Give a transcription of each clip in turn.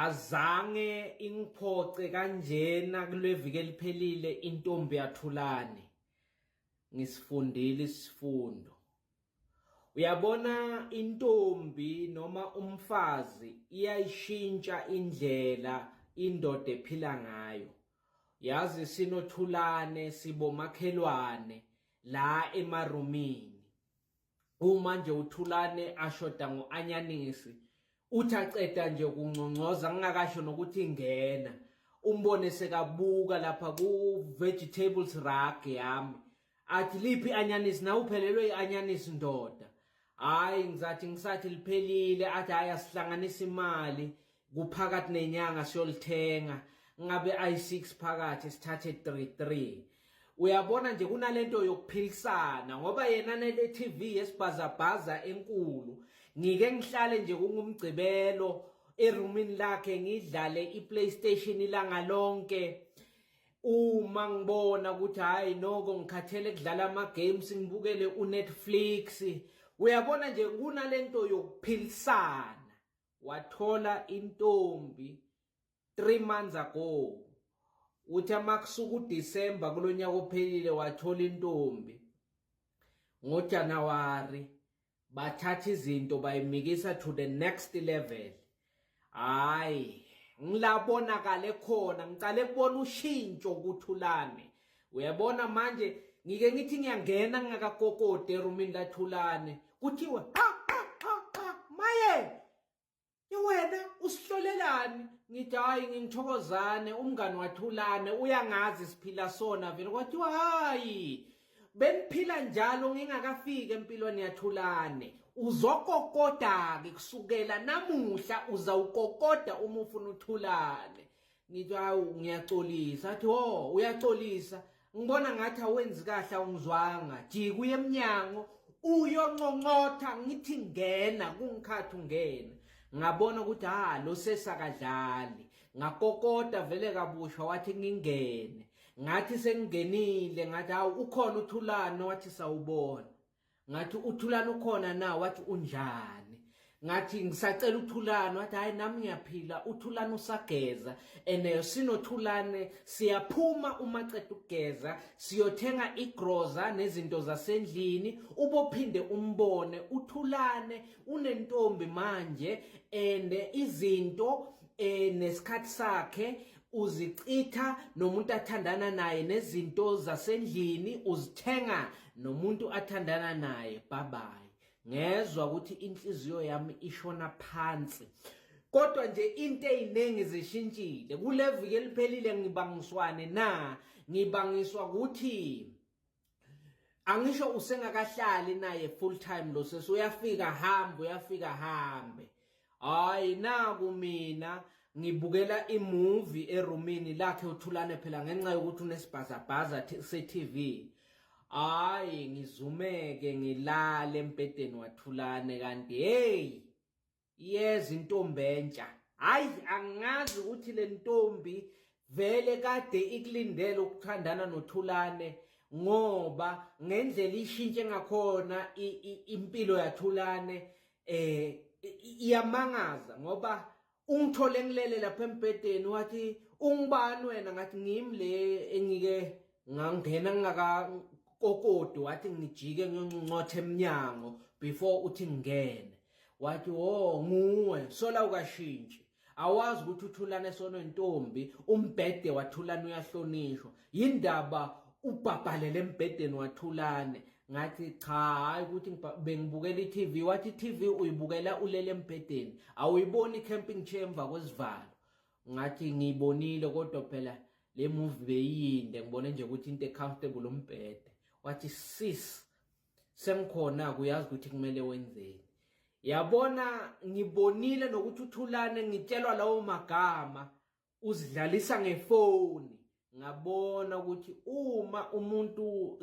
Azange ingiphoxe kanjena kuleviki eliphelile intombi yathulani. Ngisifundile isifundo. Uyabona intombi noma umfazi iyayishintsha indlela indoda ephila ngayo. Yazi sinothulane sibomakhelwane la emarumini. uma nje uthulane ashoda ngo-anyanisi uthi aceda nje kungcongcoza ngingakasho nokuthi ingena umbone sekabuka lapha ku-vegetables rug yami athi liphi i-anyanisi nawe uphelelwe i-anyanisi ndoda hhayi ngizathi ngisathi liphelile athi hhayi asihlanganisa imali kuphakathi nenyanga siyolithenga ngabe i6 phakathi sithathe 33 uyabona nje kunalento yokuphilisana ngoba yena nele TV yesibhazabhaza enkulu ngike ngihlale nje kungumgcibelo eroomini lakhe ngidlale iPlayStation ilanga lonke uma ngibona ukuthi hayi noko ngikhathele kudlala ama games ngibukele uNetflix uyabona nje kunalento yokuphilisana wathola intombi 3 months ago uthi amakusuka uDecember kulonyaka ophelile wathola intombi ngoJanuary bathatha izinto bayimikisa to the next level hayi ngilabonakale khona ngiqale kubona ushintsho kuthulane uyabona manje ngike ngithi ngiyangena ngingakakokode erumini lathulane kuthiwa qha qha qha qha maye wena usihlolelani ngithi hayi ngingithokozane umngani wathulane uyangazi siphila sona vele kwathiwa hayi beniphila njalo ngingakafiki empilweni yathulane uzokokoda-ke kusukela namuhla uzawukokoda uma ufuna uthulane ngithi hawu ngiyaxolisa athi ho oh, uyaxolisa ngibona ngathi awenzi kahle awungizwanga jika uye emnyango uyonconcotha ngithi ngena kungikhathi ungena ngabona ukuthi ha ah, lo sesakadlali ngakokota vele kabusha wathi ngingene ngathi sengingenile ngathi hawu ukhona uthulane wathi sawubona ngathi uthulana ukhona na wathi unjani ngathi ngisacela uthulana wathi hayi nami ngiyaphila uthulana usageza and eh, sinothulane siyaphuma uma ceda ukugeza siyothenga igroza nezinto zasendlini ubophinde umbone uthulane unentombi manje and eh, izinto eh nesikhathi sakhe uzichitha nomuntu athandana naye nezinto zasendlini uzithenga nomuntu athandana naye bye bye ngezwa ukuthi inhliziyo yami ishona phansi kodwa nje into eziningi zishintshile kuleviki eliphelile ngibangiswane na ngibangiswa ukuthi angisho usengakahlali naye full time lo sesi uyafika hambe uyafika hambe hayi naku mina ngibukela imovie eroomini lakhe uthulane phela ngenxa yokuthi unesibhazabhaza se-TV hayi ngizumeke ngilale embhedeni wathulane kanti hey yeza intombi entsha hayi angazi ukuthi le ntombi vele kade ikulindele ukuthandana nothulane ngoba ngendlela ishintshe ngakhona impilo yathulane eh iyamangaza ngoba ungithole ngilele lapha embhedeni wathi ungubani wena ngathi ngimi le engike ngangena ngingaka kokodo wathi ngijike ngiyoncuncotha emnyango before uthi ngingene wathi wo oh, nguwe sola ukashintshi awazi ukuthi uthulana esono ntombi umbhede wathulana uyahlonishwa yindaba ubhabhalele embhedeni wathulane ngathi cha hayi ukuthi bengibukela i-TV wathi i-TV uyibukela ulele embhedeni awuyiboni i-camping chair emva kwesivalo ngathi ngiyibonile kodwa phela le movie beyinde ngibone nje ukuthi into e-comfortable umbhede wathi sis sengikhona kuyazi ukuthi kumele wenzeni yabona ngibonile nokuthi uthulane ngitshelwa lawo magama uzidlalisa ngefoni ngabona ukuthi uma umuntu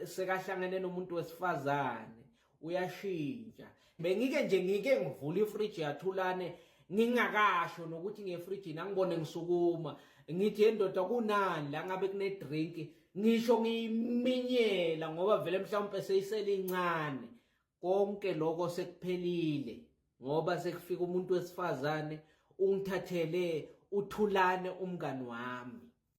sekahlangene nomuntu wesifazane uyashintsha bengike nje ngike ngivula ifridge yathulane ngingakasho nokuthi ngefridge nangibone ngisukuma ngithi endoda kunani la ngabe kune drink ngisho ngiyiminyela ngoba vele mhlawumbe seyisele incane konke lokho sekuphelile ngoba sekufika umuntu wesifazane ungithathele uthulane umngani wami